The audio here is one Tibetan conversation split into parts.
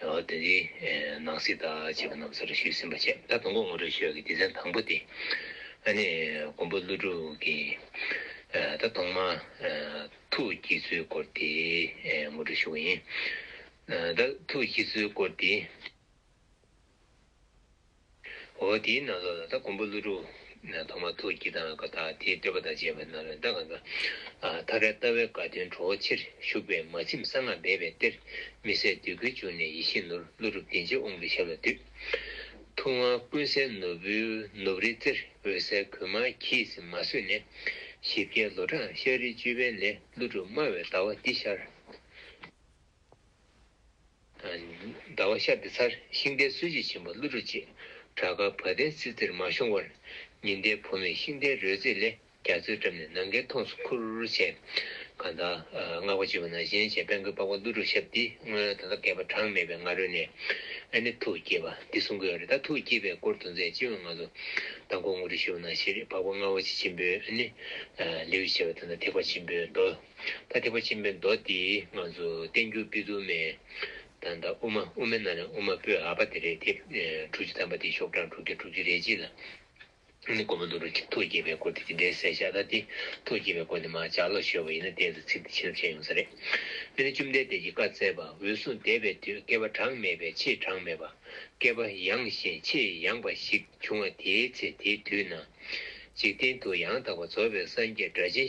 དེ་འདྲའི་ནང་སྲིད་དག་བྱས་པ་རྣམས་སོར་ཞུས་ཟིན་པ་བཅས་ད་དུང་ལོ་ངོ་དྲུག་ཤོས་ཀྱི་སྡེ་ཚན་དང་པོ་སྟེ། ཨ་ནེ་མགོན་པོ་ཀླུ་སྒྲུབ་ཀྱིས་ད་དུང་མ་ཐུག་སྐྱེ་ཚུལ་སྐོར་དེ་ངོ་སྤྲོད་ཞུ་བ་ཡིན། ད་ཐུག་སྐྱེ་ཚུལ་སྐོར་དེ། འོ་དེའི་ནང་ལོགས་ལ་ད་གོང་བུ་ཀླུ་སྒྲུབ། ཐོག་མ་ཐུགས་ཀྱི་དང་ཀ་དག་དེའི་སྤྲོས་པ་དང་བཅས་པའི་ནང་ལོགས་ལ་ད་ག་ཀ། ཐ་ཀའི་ལྟ་བའི་དགའ་སྟོན་གྲོ་བོ་ཆེར་བཞུགས་པའི་མ་ཁྱིམ་གསང་སྔགས་སྦས་པའི་གཏེར། མི་ཟད་བདུད་ཀུན་བྱུང་ནས་ཡེ་ཤེས་ནོར་ཀླུ་སྒྲུབ་བདེན་བརྗོད་དབང་གི་ཞབས་ལ་འདུད། ཐུགས་དབང་ཀུན་གསལ་ནོར་བུའི་ནུབ་རིའི་རྩེར་འོད་གསལ་གུ་མ་གྱིས་མ་བཟོད་ནས། བཞི་བརྒྱའི་ལོ་གྲངས་ཤར་རིའི་བཅུད་པའི་ལས་ཀླུ་སྒྲུབ་སྨྲ་བའི་ལྟ་བ་འདི་ཤར། ཟླ་བ་ཤར་ཏེ་ཚར་ཤིང་རྟའི་གསོལ་བྱེད་ཆེན་པོ་ཀླུ་སྒྲུབ་ཅེས་བྲག་དཀར་བ་དན་སིལ་རྩེར་མ་ཤོང་བར། ཉི་ཟླའི་ཕོ་མོས་ཤིང་རྟའི་རོལ་རྩེད་ལས་རྒྱ་མཚོའི་འགྲམ་ནས་ནམ་མཁའི་མཐོངས་སུ་ཁུར་བྱས། གང་དག་བསྔགས་པ་བརྗོད་པ་ན་གཞན་བྱས་དཔལ་མགོན་པགས་པ་ཀླུ་སྒྲུབ་ཞབས་འདི་སྔོན་ད་ལྟ་བསྐལ་པ་གྲངས་མེད་པའི་སྔ་རོལ་ནས་ཨ་ནི་ཐུགས་བསྐྱེད་པ་འདི་གསུང་གི་རེད་ད་ཐུགས་བསྐྱེད་པའི་སྐོར་དུ་མཛད་སྤྱི་བོའི་ངང་དུ་དང་ཁོང་ངོ་སྤྲོད་ཞུ་བ་ན་ཤེས་རིག་འཕགས་པ་རྔ་བ་ཆེ་ཆེན་པོས་ཨ་ནི་ལེའུ་ཞེས་པ་དེ་ན་ཐེག་པ་ཆེན་པོའི་མདོ། ཐ་དད་པ་ཆེན་པོའི་མདོ་དེ་ང་ཚོ་བསྟན་འགྱུར་དཔེ་རྡུལ་མེད་དང་དང་དབུ་མ་དབུ་མའི་ནང་ནས་དབུ་མ་སྤོས་ཨ་པ་དེ་རེད་དེ། དྲུག་ཅུ་ཐམ་པ་དེ་ཤོག་གྲངས་དྲུག་བརྒྱ་དྲུག་ཅུ་རེ་གཅིག་ལ། ནི་སྒོར་མོ་འདུག་རུང་ཐུགས་དགྱེས་པའི་སྐོར་དེ་དེ་འདྲའི་གསལ་ཤ་ད་དེ་ཐུགས་དགྱེས་པའི་སྐོར་ནི་མ་ཇག་ལོག་ཤོར་བ་ཡིན་ན་གཏན་དུ་ཚིག་འདི་བྱིན་རླབས་ཆེན་ཡོང་ས་རེད། འདི་ནི་བཅོམ་ལྡན་འདས་ཀྱིས་བཀའ་སྩལ་པ་འོད་སྲུང་འདས་པའི་དུས་བསྐལ་པ་གྲངས་མེད་པའི་ཆེས་གྲངས་མེད་པ། བསྐལ་པ་ཡངས་ཤིང་ཆེས་ཡངས་པ་ཞིག་བྱུང་བ་དེའི་ཚེ་དེའི་དུས་ན། འཇིག་རྟེན་དུ་ཡང་དག་པར་རྫོགས་པའི་སངས་རྒྱས་སྒྲ་གཅན་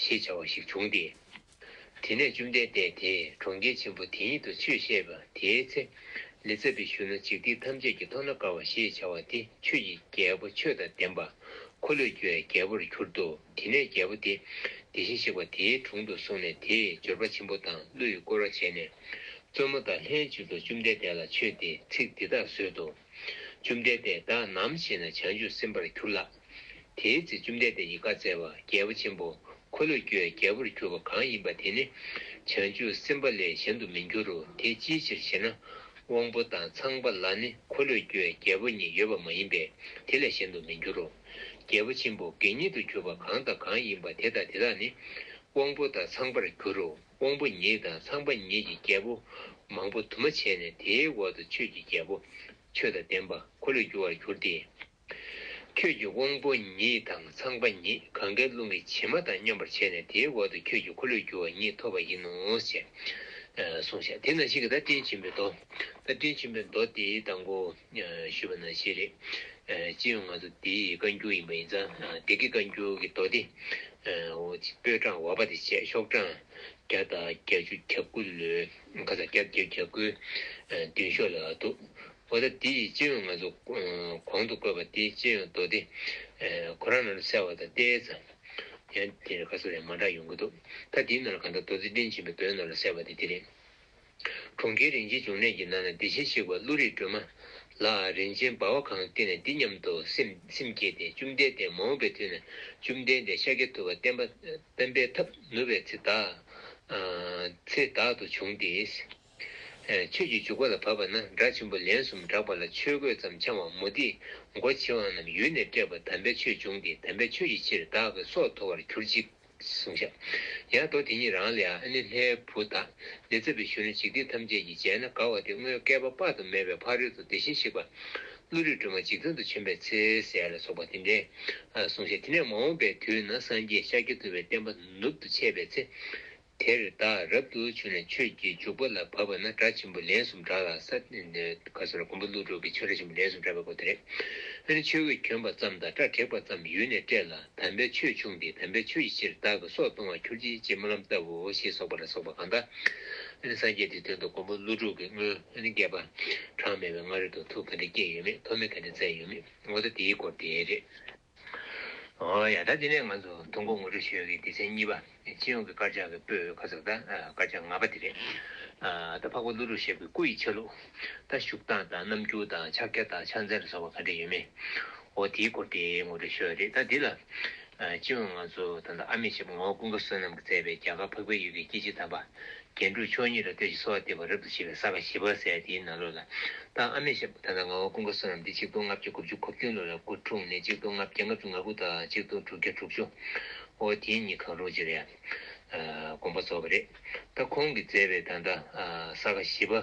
ཞེས་བྱ་བ་ཞིག་བྱུང་སྟེ། དེ་ནས་བཅོམ་ལྡན་འདས་དེས་གྲོང་ཁྱེར་ཆེན་པོ་དེ་ཉིད་དུ་ཆོས་བཤད་པ་དེའི་ཚེ། ལི་ཙྪ་བི་ཤུ་ན་འཇིག་རྟེན་ཐམས་ཅད་ཀྱི་མཐོང་ན་དགའ་བ་ཞེས་བྱ་བ་དེ་ཆོས་ཀྱི་རྒྱལ་པོ་ཆོས་དང་ལྡན་པ། འཁོར་ལོས་སྒྱུར་བའི་རྒྱལ་པོར་གྱུར་ཏོ། དེ་ནས་རྒྱལ་པོ་དེ་དེ་བཞིན་གཤེགས་པ་དེའི་དྲུང་དུ་སོང་ནས་དེས་འབྱོར་པ་ཆེན་པོ་དང་གླུ་ཡིས་བསྐོར་བ་བྱས་ནས། བཙུན་མོ་དང་ལྷན་ཅིག་ཏུ་བཅོམ་ལྡན་འདས་ལ་མཆོད་དེ་ཚིག་འདི་དག་གསོལ་ཏོ། བཅོམ་ལྡན་འདས་བདག་ནམ་ཞིག་ན་བྱང་ཆུབ་སེམས་དཔར་གྱུར་ལགས། དེའི་ཚེ་བཅོམ་ལྡན་འདས་ཀྱིས་བཀའ་སྩལ་པ་རྒྱལ་པོ་ཆེན་པོ་འཁོར་ལོས་སྒྱུར་བའི་རྒྱལ་པོར་གྱུར་པ་གང་ཡིན་པ་དེ་ནི་བྱང་ཆུབ་སེམས་དཔའ་ལས་གཞན་དུ་མི་འགྱུར་རོ་དེ་ཅིའི་ཕྱིར་ཞེ་ན། དབང་པོ་དང་ཚངས་པ་ལ་ནི་འཁོར་ལོས་སྒྱུར་བའི་རྒྱལ་པོ་ཉིད་ཡོད་པ་མ་ཡིན་པས་དེ་ལས་གཞན་དུ་མི་འགྱུར་རོ། རྒྱལ་པོ་ཆེན་པོ་དགེ་བསྙེན་དུ་གྱུར་པ་གང་དང་གང་ཡིན་པ་དེ་དང་དེ་དག་ནི་དབང་པོ་དང་ཚངས་པར་འགྱུར་རོ། དབང་པོ་ཉིད་དང་ཚངས་པ་ཉིད་ཀྱི་རྒྱལ་པོ། མང་པོ་དུ་མ་བྱས་ནས་དེའི་འོག་ཏུ་ཆོས་ཀྱི་རྒྱལ་པོ། ཆོས་དང་ལྡན་པ་འཁོར་ལོས་སྒྱུར་བར་གྱུར་ཏེ། ཁྱོད་ཀྱི་དབང་པོ་ཉིད་དང་ཚངས་པ་ཉིད་གང་གཱའི་ཀླུང་གི་བྱེ་མ་དང་མཉམ་པར་བྱས་ནས་དེའི་འོག་ཏུ་ཁྱོད་ཀྱི་འཁོར་ལོས་སྒྱུར་བ་ཉིད་ཐོབ་པ་ཡིན་ནོ་ཞེས་གསུངས་ཤིང་དེ་ན་ཤིང་གི་རྟ་སྤྲིན་ཆེན་པོའི་མདོ། རྟ་སྤྲིན་ཆེན་པོའི་མདོ་དེའི་གདངས་ཀོ། ཞུས་པ་ན་བཞེས་རེད། ཅི་ཡང་ང་ཚོ་དེའི་བཀའ་འགྱུར་ཡིན་པ་ཡིན་ཙང་སྡེ་དགེ་བཀའ་འགྱུར་གྱི་མདོ་སྡེ། པོད་གྲངས་བ་པ་དེ་བཅས་ཤོག་གྲངས་བརྒྱ་དང་བརྒྱད་ཅུ་གྱ་དགུ་ལོའི་ཁ་སང་བརྒྱ་བརྒྱད་གྱ་དགུའི་མདུན་ཤོག་ལ་འདུག་འོ་ད་འདི་ཡི་སྤྱི་ཡོངས་ང་ཚོ་གོང་དུ་བཀོད་པ་དེ་སྤྱི་ཡོངས་མདོ་སྡེ། ཁོ་རང་ནང་དུ་གསལ་བ་དང་ལྟས་ཙམ། ཡང་དེ་ཁ་གསོ་ཡང་མ་འདྲ་ཡོང་གི་འདུག་ད་འདིའི་ནང་ལ་གང་ལྟར་མདོ་སྡེ་བཀྲིན་ཆེན་པའི་མདོའི་ནང་ལ་གསལ་བ་དེ་འདི་རེད། གྲོང་ཁྱེར་རིན་ཆེན་འབྱུང་གནས་ཀྱི་ནང་ན་བདེ་ཆེན་གཤེགས་པ་ཀླུ་རིགས་སྒྲོལ་མ་ལ་རིན་ཆེན་འབར་བ་གང་བསྟན་ནས་འདི་སྙམ་དུ་སེམས་བསྐྱེད་དེ་བཅོམ་ལྡན་འདས་མ་འོངས་པའི་དུས་ན་བཅོམ་ལྡན་འདས་ཤཱཀྱ་ཐུབ་པ་བསྟན་པ་བསྟན་པའི་ཐབས་ནུབ་པའི་ཚེ་བདག། ཚེ་བདག་ཏུ་བྱུང་སྟེ། ཆོས་ཀྱི་འཇུག་པ་ལ་བབ་པ་ན་སྒྲ་ཆེན་པོ་ལན་གསུམ་བསྒྲགས་པ་ལ་ཆོས་གོས་ཙམ་འཆང་བ་མུ་ཏིག་མགོ་བྱེ་བ་རྣམས་ཡུལ་ནས་སྤྲད་པ་དམ་པའི་ཆོས་འབྱུང་སྟེ་དམ་པའི་ཆོས་ཀྱི་ཕྱིར་བདག་གི་སྲོག་འཐོར་བར་གྱུར་ཅིག། གསུང་བྱ། ཡང་མདོ་དེ་ཉིད་རང་ལས་ཨ་ནི་ལྷའི་བུ་དག། ལས་མཛད་པའི་གཞོན་ནུ་འཇིག་རྟེན་ཐམས་ཅད་ཀྱིས་མཇལ་ན་དགའ་བ་དེ་སྔོན་བསྐལ་པ་དཔག་ཏུ་མེད་པའི་ཕ་རོལ་ཏུ་དེ་བཞིན་གཤེགས་པ། ཀླུ་རིགས་སྒྲོལ་མ་འཇིག་ཚང་དུ་བྱོན་པའི་ཚེ་ཟས་ལ་སོགས་པ་དེ་འདྲའི། གསུང་བྱ། དེ་ནས་མ་འོངས་པའི་དུས་ན་སངས་རྒྱས་ཤཱཀྱ་ཐུབ་པའི་བསྟན་པ་ནུབ་ཏུ་ཆས་པའི་ཚེ། དེར་བདག་རབ་ཏུ་བྱོན་ནས་ཆོས་ཀྱི་འཇུག་པ་ལ་བབ་པ་ན་སྒྲ་ཆེན་པོ་ལན་གསུམ་བསྒྲགས་ལ་ས་ག་ས་ལ་གོང་བུ་ཀླུ་སྒྲུབ་ཀྱི་ཆོས་སྒྲ་ཆེན་པོ་ལན་གསུམ་བསྒྲགས་པའི་སྐོར་དེ་རེད། དེ་ནས་ཆོས་གོས་གྱོན་པ་ཙམ་དང་སྐྲ་བྲེགས་པ་ཙམ་ཡུལ་ནས་བསྐྲད་ལ་དམ་པའི་ཆོས་ཕྱུང་སྟེ་དམ་པའི་ཆོས་ཀྱི་ཕྱིར་བདག་གི་སྲོག་གཏོང་བར་གྱུར་ཅིག་ཅེས་སྨོན་ལམ་བཏབ་བོ་ཞེས་སོགས་པ་ལ་སོགས་པ་གང་དག་ནི་སངས་རྒྱས་དེའི་དོན་དུ་གོང་བུ་ཀླུ་སྒྲུབ་ཀྱི་སྔོན་ནི་བསྐལ་པ་གྲངས་མེད་པའི་སྔ་རོལ་དུ་ཐུགས་ག་འདྲས་བསྐྱེད་ཡོད་མེད་མཐོ་དམན་ག་འདྲས་བཙལ་ཡོད་མེད་ངོ་ཚ་དེའི་སྐོར་དེ་རེད། ཡང་ད་འདི་ནས་ང་ཚོ་ཐུགས་མགོ་ངུ་འཕྲོ་བྱེད་ཡོང་གི་སྡེ་ཚན་གཉིས་པ་སྤྱི་ཡོངས་ཀྱི་དཀར་ཆག་གི་སྤོས་ཁ་ཟག་དང་དཀར་ཆག་ང་པ་དེ་རེད། ད་འཕགས་པ་ཀླུ་སྒྲུབ་ཞབས་ཀྱི་སྐུ་ཡི་ཆ་ལུགས། ད་བཞུགས་སྟངས་དང་རྣམ་འགྱུར་དང་ཕྱག་རྒྱ་དང་ཕྱག་མཚན་ལ་སོགས་པ་ག་འདྲ་ཡོད་མེད། འོ་དེའི་སྐོར་དེ་ངོ་སྤྲོད་ཞུ་ཡ་རེད་ད་འདི་ལ། སྤྱི་ཡོངས་ང་ཚོ་ད་ལྟ་ཨ་མེས་ཞབས་ངོ་བོ་ཀུན་དགའ་བསོད་ནམས་ཀྱིས་མཛད་པའི་རྒྱ་གར་འཕགས་པའི་ཡུལ་གྱི་སྐྱེ་འཆི་དམ་པ་རྒྱན་དྲུག་ཕྱོགས་གཉིས་ལ་ལྟོས་ཤིག་གསོལ་བ་འདེབས་པ་རབ་ཏུ་བྱེད་པའི་ས་ག་བཞི་པར་སའི་དེའི་ནང་ལུས་ལ། བདག་ཨ་མེས་ཞབས་ད་ལྟ་ང་བ་ཀུན་དགའ་བསོད་ནམས་འདི་གཅིག་སྟོང་ལྔ་བརྒྱ་དགུ་བཅུ་གོ་བདུན་ལུས་ལ་དགུ་དྲུག་ནི་གཅིག་སྟོང་ལྔ་བརྒྱ་ལྔ་བཅུ་ང་དགུ་དག་གཅིག་སྟོང་དྲུག་བརྒྱ་དྲུག་ཅུ། ཨོ་དེ་གཉིས་གང་རུང་ཅི་རེད། དགོངས་པ་རྫོགས་པ་རེད། ད་ཁོང་གིས་མཛད་པའི་ད་ལྟ་ས་ག་བཞི་པ།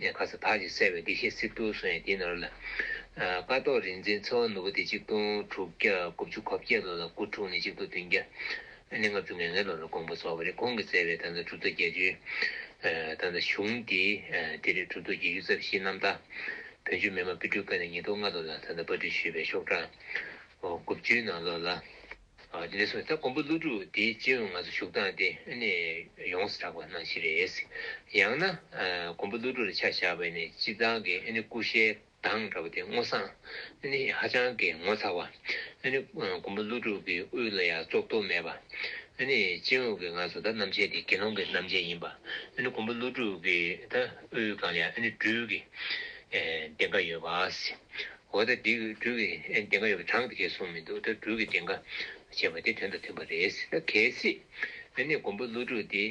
ནས་ཁ་ས་དག་ཅིག་གསལ་བའི་བདེ་གཤེགས་གསེར་ཐུར་སོང་ཡང་དེའི་ནོར་ལ། ཀ་ཏོག་རིག་འཛིན་ཚེ་དབང་ནོར་བུ་སྟེ་གཅིག་སྟོང་དྲུག་བརྒྱ་དགུ་བཅུ་གོ་བརྒྱད་ལོ་ལ་སྐུ་འཁྲུངས་ནས་གཅིག་སྟོང་བདུན་བརྒྱ་ནས་ལྔ་བཅུ་ང་ལྔའི་ལོ་རུ་དགོངས་པ་རྫོགས་པ་རེད་ཁོང་གིས་མཛད་པའི་དང་ཚ་གྲུབ་རྡོ་རྒྱལ་ཆུའི་དང་ཚ་གཞུང་དེ་དེ་རེད་གྲུབ་རྡོ་རྗེ་གཡུ་རྩ་བཞིའི་རྣམ་ཐར་བོན་ཆོས་མི་དམངས་པི་སྤྲུལ་སྐུ་ནས་ཉིས་སྟོང་ལྔ་ལོ་ལ་དང་ཚ་སྤ་སྤྲུལ་ཞུས་པའི་ཤོག་གྲངས་དགུ་བཅུའི་ནང་ལོ་ལ། དེ་ལས་གསུངས་ད་ཀོང་པོ་ཀླུ་སྒྲུབ་དེའི་སྤྱི་དབང་ང་ཚོ་ཞུགས་སྟངས་དེ་ནི་ཡོངས་སུ་གྲགས་པ་སྣང་བཞིན་རེད། ཡང་ན་ཀོང་པོ་ཀླུ་སྒྲུབ་ལ་ཆ་བཞག་པའི་ནི་སྤྱི་བཏང་གི་སྐུ་ཞལ་གདངས་འདྲ་བ་དེ་སྔོ་བསངས་ནི་ཧ་ཅང་གི་ངོ་མཚར་བ། ཀོང་པོ་ཀླུ་སྒྲུབ་ཀྱི་དབུས་ལ་ཡང་བཙོག་གཏོར་མེད་པ། སྤྱི་དབང་གི་ང་ཚོ་ད་རྣམ་བཅད་དེ་དགེ་སློང་གི་རྣམ་བཅད་ཡིན་པ། ཀོང་པོ་ཀླུ་སྒྲུབ་ཀྱི་ད་དབུས་གང་ལ་ཡང་སྦྲུལ་གྱི་བདེན་པ་ཡོད་པ། འོ་ད་འདི་སྦྲུལ་གྱི་བདེན་ཁ་ཡོད་པ་དྲང་གི་སོང་མི་འདུག་ད་སྦྲུལ་གྱི་བདེན་ཁ་ཞེས་པ་དེ་དོན་དང་མཐུན་པ་རེད་ཟེར་ན་གལ་སྲིད་ཨ་ནེ་མགོན་པོ་ཀླུ་སྒྲུབ་འདི་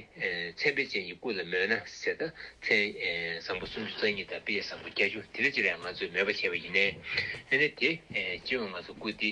མཚན་དཔེ་ཅན་གྱི་སྐུ་ལ་མོས་ན་ཟེར་ད་མཚན་བཟང་པོ་སུམ་ཅུ་རྩ་གཉིས་དང་དཔེ་བཟང་པོ་བརྒྱ་ཅུ་དེ་ལས་ཅི་ལས་ང་ཚོས་མོས་པ་བྱས་པ་ཡིན་ནའི་ཨ་ནེ་དེ་ཅི་ཡང་ང་ཚོ་སྐུ་འདི་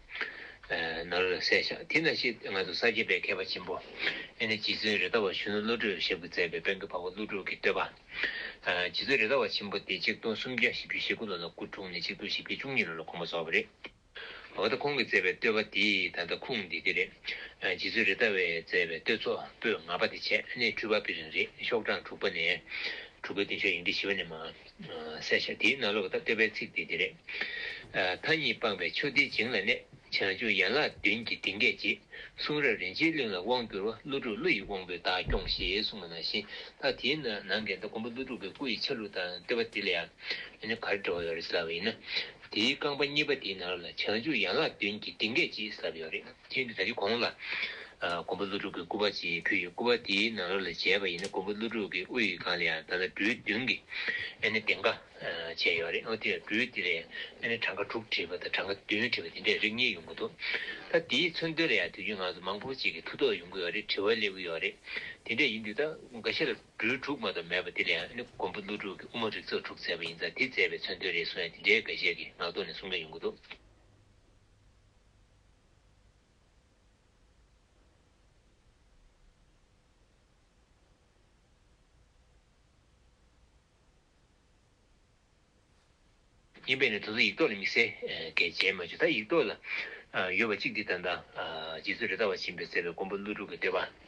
ནར་གསལ་ཤག་དེ་ན་ཤི་ང་དུ་ས་སྐྱེས་པའི་མཁས་པ་ཆེན་པོ་ཨེ་ནི་རྗེ་བཙུན་རི་དྭགས་བ་གཞོན་ནུ་བློ་གྲོས་ཞབས་ཀྱིས་མཛད་པའི་དཔལ་གྱི་བ་བ་ཀླུ་སྒྲུབ་ཀྱི་བསྟོད་པ། རྗེ་བཙུན་རི་དྭགས་བ་ཆེན་པོ་སྟེ་ཆིག་སྟོང་སུམ་བརྒྱ་བཞི་བཅུ་ཞེ་དགུ་ལོ་ལ་སྐུ་འཁྲུངས་ནས་ཆིག་སྟོང་བཞི་བརྒྱ་བཅུ་གཉིས་ལོ་ལ་གོང་མ་རྫོགས་པ་རེད། འོ་ད་ཁོང་གིས་མཛད་པའི་བསྟོད་པ་དེ་ད་ལྟ་ཁུངས་འདི་དེ་རེད། རྗེ་བཙུན་རི་དྭགས་བས་མཛད་པའི་བསྟོད་ཚོགས་པོད་ང་པ་དེ་བྱས་ནས་འཁྲུལ་པ་པི་རིང་རེད་ཤོག་གྲངས་དྲུག་པ་ནས་དྲུག་པའི་བདུན་ཤོག་ཡིག་འབྲི་བཞི་བ་ནས་མ། གསལ་བྱ་དེའི་ནང་ལོགས་ལྟར་བསྟོད་པའི་ཚིག་དེ་འདི་རེད། མཐའ་གཉིས་སྤངས་པའི་ཆོས་འདི་བྱིངས་ལ་གནས། བྱང་ཆུབ་ཡན་ལག་བདུན་གྱི་གདིང་སྐད་ཅེས། གསུང་རབ་རིན་ཆེན་གླིང་ལ་དབང་བསྒྱུར་བ་ཀླུ་དྲུག་ཀླུ་ཡི་དབང་པོས་བདག་སྐྱོངས་ཞེས་གསུངས་པ་ནང་བཞིན་མཐའ་དེའི་ནང་གི་མགོན་པོ་ཀླུ་དྲུག་པའི་སྐུ་ཡི་ཆ་ལུགས་དང་བསྟོད་པ་འདི་ལ་ཡང་གར་འགྲོ་བ་ཡོད་རེད་ཟེར་ལབ་པ་ཡིན་ན། དེའི་རྐང་པ་གཉིས་པ་དེའི་ནང་ལོགས་ལ་བྱང་ཆུབ་ཡན་ལག་བདུན་གྱི་གདིང་སྐད་ཅེས་ཟེར་ལབ་ཡོད་རེད། ཁྱེད་འདི་ད་ཅི་གོང་ལ། མགོན་པོ་ཀླུ་སྒྲུབ་ཀྱི་སྐུ་པར་ཅིག་ཕུལ་ཡོད་སྐུ་པར་དེའི་ནང་རོ་ལ་བྱས་པ་ཡིན་ན་མགོན་པོ་ཀླུ་སྒྲུབ་ཀྱི་དབུ་ཡི་སྒང་ལ་ཡང་ད་ལྟ་འབྲུ་བདུན་གྱི་ཨེ་ནི་གདེངས་ཀ་བྱས་ཡོད་རེད་ཨོ་དེ་ཡང་འབྲུ་དེ་ལས་ཨེ་ནི་གྲངས་ཀ་དྲུག་བྲིས་པ་དང་གྲངས་ཀ་བདུན་བྲིས་པ་དེ་འདྲས་རིགས་གཉིས་ཡོང་གི་འདུག་ད་དེའི་མཚོན་དོན་ལ་ཡང་དུས་རྒྱུན་ང་ཚོ་མང་པོ་ཅིག་གིས་ཐུགས་དོགས་ཡོང་གི་ཡོད་རེད་དྲི་བ་སླེབས་ཀྱི་ཡོད་རེད་དེ་འདྲས་ཡིན་དུས་ད་འགའ་ཤས་ལ་འབྲུ་དྲུག་མ་གཏོགས་མེད་པ་དེ་ལ་ཡང་ཨེ་ནི་མགོན་པོ་ཀླུ་སྒྲུབ་ཀྱི་དབུ་མ་རིགས་ཚོགས་དྲུག་མཛད་པ་ཡིན་ཙང་དེ་མཛད་པའི་མཚོན་དོན་རེད་གསུང་ཡང་དེ་འདྲས་འགའ་ཤས་ཀྱིས་ངག་ཐོག་ནས་གསུང་མཁན་ཡོང་གི་འདུག། ཡིན་པས་ན་དེ་ཚོ་ཡིག་ཐོག་ལ་དམིགས་བསལ་གལ་ཆེན་མ་བྱུང་ད་ཡིག་ཐོག་ལ་ཡོད་པ་གཅིག་འདི་ལྟར་འདའ། རྗེ་བཙུན་རི་དྭགས་བ་བྱིན་པས་གསལ་བའི་མགོན་པོ་ཀླུ་སྒྲུབ་ཀྱི་བསྟོད་པ།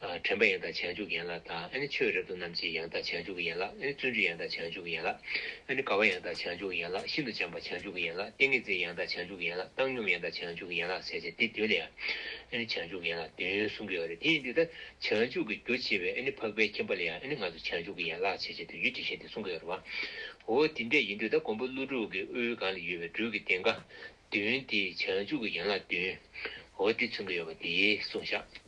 དྲན་པ་ཡང་དག་བྱང་ཆུབ་ཀྱི་ཡན་ལག་དང། ཆོས་རབ་ཏུ་རྣམས་ཀྱི་ཡང་དག་བྱང་ཆུབ་ཀྱི་ཡན་ལག། བརྩོན་འགྲུས་ཡང་དག་བྱང་ཆུབ་ཀྱི་ཡན་ལག། དགའ་བ་ཡང་དག་བྱང་ཆུབ་ཀྱི་ཡན་ལག། ཤིན་ཏུ་བྱམས་པ་བྱང་ཆུབ་ཀྱི་ཡན་ལག། ཏིང་ངེ་འཛིན་ཡང་དག་བྱང་ཆུབ་ཀྱི་ཡན་ལག། བཏང་སྙོམས་ཡང་དག་བྱང་ཆུབ་ཀྱི་ཡན་ལག་བྱས་ཏེ་འདི་བདུན་ལས། བྱང་ཆུབ་ཀྱི་ཡན་ལག་བདུན་གསུངས་པའི་བར་དེ་ཡིན་ཏེ། བྱང་ཆུབ་ཀྱི་རྒྱུ་བྱེད་པའི་འཕགས་པའི་ཁྱིམ་པ་ལ་ཡང་ང་ཚོ་བྱང་ཆུབ་ཀྱི་ཡན་ལག་བྱེད་ཅེས་དུས་ཀྱི་དྲི་ཞིམ་དེ་གསུངས་པའི་བར་བའོ། དེ་འདྲ་ཡིན་དུས་ད་གོང་བུ་ཀླུ་དྲུག་གི་དབུའི་སྒང་ལ་ཡོད་པའི་སྦྲུལ་གྱི་སྟེང་སྒང། བདུན་དེ་བྱང་ཆུབ་ཀྱི་ཡན་ལག་བདུན། འོ་དེ་མཚོན་གྱི་ཡོད་པ་དེ་གསུངས་བཞག།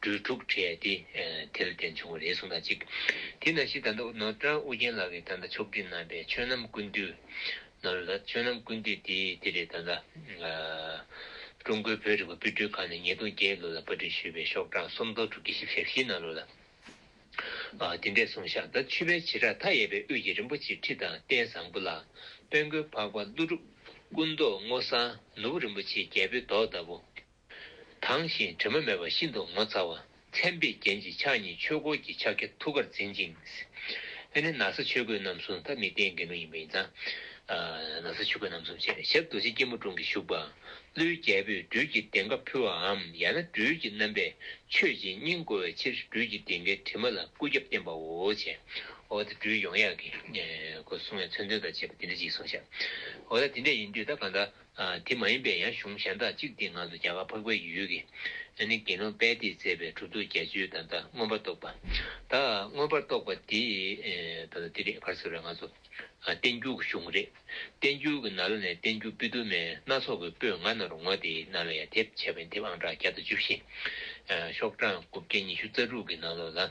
སྦྲུལ་དྲུག་ཁྲེས་ཏེ་དེ་ལ་བརྟེན་བྱུང་བ་རེ་ཟུང་དང་གཅིག། དེ་ན་ཤི་དང་ནོར་བྲང་ཨུ་རྒྱན་ལགས་ཀྱིས་ད་ལྟ་ཆོག་སྒྲིག་གནང་པའི་ཆོས་རྣམ་ཀུན་འདུས། ནོར་བྲང་ལགས་ཆོས་རྣམ་ཀུན་འདུས་དེ་དེ་རེད་ད་ལྟ། ཀྲུང་གོའི་བོད་རིག་པ་དཔེ་སྐྲུན་ཁང་ནས་ཉིས་སྟོང་བརྒྱད་ལོ་ལ་བཀའ་དྲིན་ཞུས་པའི་ཤོག་གྲངས་སུམ་སྟོང་དྲུག་བརྒྱ་བཞི་བཞི་བཞི་གནང་ལོ་ལ། དེ་འདྲས་གསུངས་ཤག་ད་ཆུ་བེད་བྱེ་བྲག་མཐའ་ཡས་པའི་དབུས་ཀྱི་རིན་པོ་ཆེའི་ཁྲི་དང་རྟེན་བཟང་པོ་ལ། དཔལ་མགོན་འཕགས་པ་ཀླུ་སྒྲུབ། སྐུ་མདོག་སྔོ་བསངས་ནོར་བུ་རིན་པོ་ཆེའི་རྒྱལ་པོའི་མདོག་ལྟ་བུ། དྭངས་ཤིང་དྲི་མ་མེད་པ་ཤིན་ཏུ་ངོ་མཚར་བ། མཚན་དཔེའི་རྒྱན་གྱི་ཕྱག་གཉིས་ཆོས་འཁོར་གྱི་ཕྱག་རྒྱ་ཐུགས་ཀར་འཛིན་ཅིང། དེ་ནི་ན་བཟའ་ཆོས་གོས་རྣམ་གསུམ་ཐབས་མི་བརྟན་འགལ་མེད་ཡིན་པ་ཡིན་ཙང། ན་བཟའ་ཆོས་གོས་རྣམ་གསུམ་བཅས་ཞབས་རྡོ་རྗེ་སྐྱིལ་མོ་ཀྲུང་གིས་བཞུགས་པ། ཀླུའི་རྒྱལ་པོས་སྦྲུལ་གྱི་གདེངས་ཀ་ཕུལ་བའམ་ཡང་ན་སྦྲུལ་གྱི་རྣམ་པས་མཆོད་ཅིང་སྙིང་བསྐོར་བའི་ཕྱིར་སྦྲུལ་གྱི་གདེངས་ཀའི་དྲི་མ་ལ་སྐུ་རྒྱབ་བསྟན་པའོ། བྱའོ། འོ་ད་སྦྲུལ་ཡོངས་ཡངས་ཀྱིས། གསུང་བའི་མཚོན་དོན་དང་བཅས་པ་འདི་འདྲ་ཅིག་གསུངས་ཤག། འོ་ད་དེ་འདྲ་ཡིན་དུས་ད་གང་ལྟར། དེ་མ་ཡིན་པའི་ཡང་གཞུང་གཞན་དག་ཅིག་དེའི་ངང་དུ་རྒྱ་གར་འཕགས་པའི་ཡུལ་གྱི། ཨ་ནི་དགེ་སློང་དཔལ་དེས་མཛད་པའི་གྲུབ་ཐོབ་བརྒྱད་ཅུའི་ད་ལྟ་མངོན་པར་རྟོགས་པ། ད་མངོན་པར་རྟོགས་པ་དེ། ད་ལྟ་དེ་རེད་བར་ཟེར་བའི་ང་ཚོ། བསྟན་འགྱུར་གྱི་གཞུང་རེད། བསྟན་འགྱུར་གྱི་ནཱ་ལ་ནས་བསྟན་འགྱུར་པི་དུ་མའི་སྣ་ཚོགས་ཀྱི་སྤོས་ང་ན་རུ་ང་དེའི་ནཱ་ལ་ཡ་དེབ་བྱས་པ་ཡིན་དེབ་ཨང་གྲངས་བརྒྱ་དང་བཅུ་བཞི། ཤོག་གྲངས་དགུ་བརྒྱ་ཉི་ཤུ་རྩ་དྲུག་གི་ནང་ལོགས་ལ།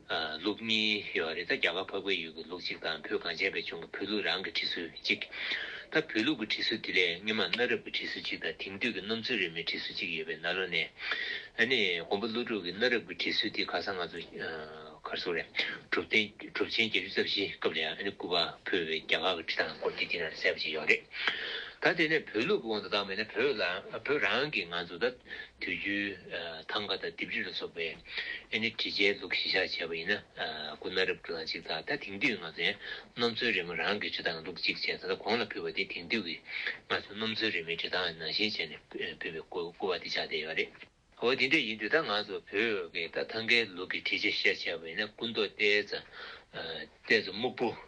ལུག་གཉིས་ཡོད་པ་རེད་ད་རྒྱ་གར་ཕ་བུའི་ཡུལ་གྱི་ལུག་གཅིག་དང་བུ་གངས་ཅན་པའི་ལྗོངས་ཀྱི་བུ་ལུག་རང་གི་གྲི་སུལ་གཅིག་ད་བུ་ལུག་གི་གྲི་སུལ་དེ་ལས་སྔོན་མ་གནའ་རབས་ཀྱི་གྲི་སུལ་གཅིག་དང་དེང་དུས་ཀྱི་སྣུམ་ཚོན་རིས་མའི་གྲི་སུལ་གཅིག་ཡོད་པའི་ན་ལོ་ནས་ཨ་ནི་མགོན་པོ་ཀླུ་སྒྲུབ་ཀྱི་གནའ་རབས་ཀྱི་གྲི་སུལ་དེ་ག་ས་ང་ཚོ་གར་སོང་རེད་གྲུབ་བརྟན་གྲུབ་ཆེན་བརྒྱད་ཅུ་རྩ་བཞིའི་སྐབས་ལས་ཨ་ནི་སྐུ་པར་ཕུལ་བའི་རྒྱ་གར་གྱི་གྲི་ཐང་སྐོར་དེ་དེ་ན་ལ་གསལ་པོ་ཞིག་ཡོད་རེད་ད་དེ་ནས་བུ་ལུག་གི་དབང་དུ་བཏང་བས་ན་བོད་རང་གི་ང་ཚོ་ད་དུས་རྒྱུན་ཐང་ག་དང་ལྡེབས་རིས་ལ་སོགས་པའི། ཨེ་ནི་དྲི་ཆའི་དུག་གཞིས་ཆགས་བྱས་པ་ཡིན་ན་སྐུ་སྣ་རབ་ཀྱི་ལ་གཅིག་དང་ད་དེང་དུས་ང་ཚོས་སྣུམ་ཚོན་རེ་མོ་རང་གི་ཇུས་ཐག་ལུག་གཅིག་བྱས་ད་ལྟ་གོང་ལ་ཕུལ་བ་དེ་དེང་དུས་ཀྱི་ང་ཚོས་སྣུམ་ཚོན་རེ་མོའི་ཇུས་ཐག་ནང་བཞིན་བྱས་ནས་ཕུལ་བའི་སྐུ་བ་དེ་ཆགས་བསྡད་ཡོད་པ་རེད། འོ་དེ་འདྲ་ཡིན་དུས་ད་ང་ཚོ་བོད་ཀྱི་ད་ཐང་གའི་ལུག་གི་དྲི་ཆ་བཤེར་བྱས་པ་ཡིན་ན་སྐུ་མདོག་ལྟས་ཚ། ལྟས་ཚ་སྨུག་པོ།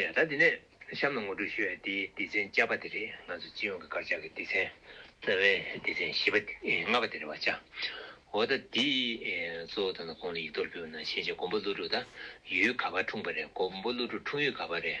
ཡ། ད་འདི་ནས་གཤམ་ལ་ངོ་སྤྲོད་ཞུ་ཡ། འདི་སྡེ་ཚན་བཅའ་པ་དེ་རེད་ང་ཚོ་སྤྱི་ཡོངས་ཀྱི་དཀར་ཆག་གི་སྡེ་ཚན་རྩ་བའི་སྡེ་ཚན་བཞི་པ་ལྔ་པ་དེ་རེད་བ་ཅའོ། ད་འདི་གཙོ་བོ་ད་ན་ཁོང་ལ་ཡིག་ཐོར་བུ་བ་ན་ཤེས་བྱ་མགོན་པོ་ཀླུ་སྒྲུབ་ད་ཡུལ་ག་བར་འཁྲུངས་པ་རེད་མགོན་པོ་ཀླུ་སྒྲུབ་འཁྲུངས་ཡུལ་ག་བར་རེད།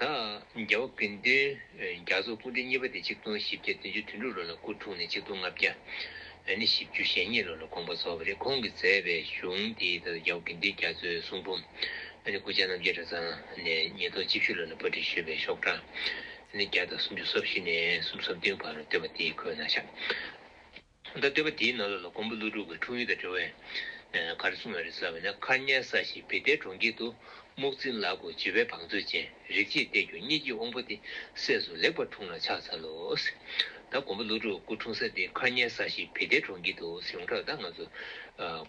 དང། རྒྱལ་བོ་དགེ་འདུན་རྒྱ་མཚོ་སྐུ་འཕྲེང་གཉིས་པ་སྟེ་ཆིག་སྟོང་བཞི་བརྒྱ་བདུན་ཅུ་དོན་དྲུག་ལོ་ལ་སྐུ་འཁྲུངས་ནས་ཆིག་སྟོང་ལྔ་བརྒྱ་ནི་བཞི་བཅུ་ཞེ་གཉིས་ལོ་ལ་དགོངས་པ་རྫོགས་པ་རེད་ཁོང་གིས་མཛད་པའི་གཞུང་དེའི་ཐད་དུ་རྒྱལ་བོ་དགེ་འདུན་རྒྱ་མཚོའི་གསུང་འབུམ་ནི་སྐུ་ཕྱྭ་རྣམ་རྒྱལ་གྲྭ་ཚང་ནས་ཉིས་སྟོང་བཅུ་བཞི་ལོ་ལ་པར་སྒྲིག་ཞུས་པའི་ཤོག་གྲངས་ནི་བརྒྱ་དང་སུམ་ཅུ་སོ་བཞི་ནས་སུམ་སོ་བདུན་བར་བཏོན་པ་དེའི་ཁོད་ན་ཤཱཀྱ་ཐོག་མཐའ་བརྟན་པ་དེའི་ནང་ལོགས་ལ་ཀོང་པོ་ཀླུ་སྒྲུབ་ཀྱི་འཁྲུངས་ཡུལ་དུ་འགྲོ་བས། ག་རེ་གསུངས་ཡོད་རེད་ཟེར་བ་ན་མཁར་གཉན་ས་ཞིག་བི་ཏའི་གྲོང་ཁྱེར་དུ་རྨུག་རྩིང་ལག་དགུ་བྱི་བའི་བང་མཛོད་ཅན་རིག་བྱེད་གཏེར་གྱུར་གཉིས་ཀྱི་དབང་པོ་དེ་སྲས་སུ་ལེགས་པར་འཁྲུངས་ལ་ཕྱག་འཚལ་ལོ། ད་ཀོང་པོ་ཀླུ་སྒྲུབ་སྐུ་འཁྲུངས་ས་དེ་མཁར་གཉན་ས་ཞིག་བི་ཏའི་གྲོང་ཁྱེར་དུ་ཡོང་གྲབས་ད་ང་ཚོ།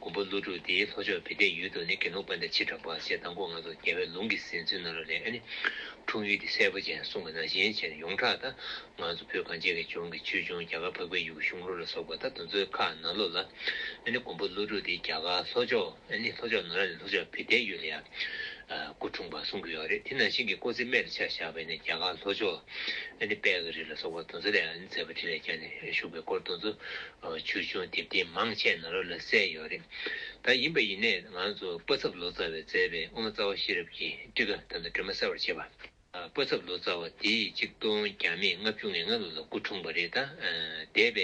ཀོང་པོ་ཀླུ་སྒྲུབ་དེའི་ལྷོ་ཕྱོགས་བི་ཏའི་ཡུལ་དུ་ནི་དགེ་སློང་དཔལ་ཟླ་ཕྱི་དྲག་པ་ཞེས་དང་པོ་ང་ཚོ་རྒྱལ་བའི་ལུང་གི་ཟིན་ཚུལ་ནང་ལོགས་ལས་ཨ་ནི། འཁྲུངས་ཡུལ་དེ་སྲས་པོ་ཅན་གསུངས་པ་ན་གཞན་བྱས་ནས་ཡོངས་གྲགས་ད། ང་ཚོ་བོད་གངས་ཅན་གྱི་ལྗོངས་ཀྱི་ཆོས་འབྱུང་རྒྱ་གར་འཕགས་པའི་ཡུ་གུ་གཞུང་ལུགས་ལ་སོགས་པ་ད་དུང་མཛོད་ཁག་ནང་ལོགས་ལ་ཨ་ནི་ཀོང་པོ་ཀླུ་སྒྲུབ་དེ་རྒྱ་གར་ལྷོ་ཕྱོགས་ཨ་ནི་ལྷོ་ཕྱོགས་ནང་ར་ནི་ལྷོ་ཕྱོགས་བྷི་ཏའི་ཡུལ་ལ་ཡང་སྐུ་འཁྲུངས་པར་གསུང་གི་ཡོད་རེད་དེ་ནང་བཞིན་གྱི་སྐོར་ཚིག་རྨད་དུ་ཆགས་བཞག་པས་ནི་རྒྱ་གར་ལྷོ་ཕྱོགས་ཨ་ནི་དཔལ་གྱི་རི་ལ་སོགས་པར་དུང་ཟེ་ལས་ཨ་ནི་མཛད་པ་དྲིན་ལས་རྒྱ་ནས་བཞུགས་པའི་སྐོར་དུང་ཟེ་ཆོས་འབྱུང་དེབ་ཐེར་མང་ཆེ་ནང་ལོགས་ལ་གསལ་ཡོད་རེད་ད་ཡིན་པ་ཡིན་ནས་ང་ཚོ་པ་ཚབ་ལོ་ཙཱ་བས་མཛད་པའི་དབུ་མ་རྩ་བ་ཤེས་རབ་ཀྱི་ཀྲི་ཀ་དང་དུ་དྲི་མ་གསལ་བར་བྱེད་པ། བཀོད་ཚབ་ལོ་ཙཱ་བ་དེས་གཅིག་སྟོང་བརྒྱ་མེད་ལྔ་བཅུ་ང་ལྔ་ལོ་ལ་སྐུ་འཁྲུངས་པ་རེད་ད། འདས་པའི།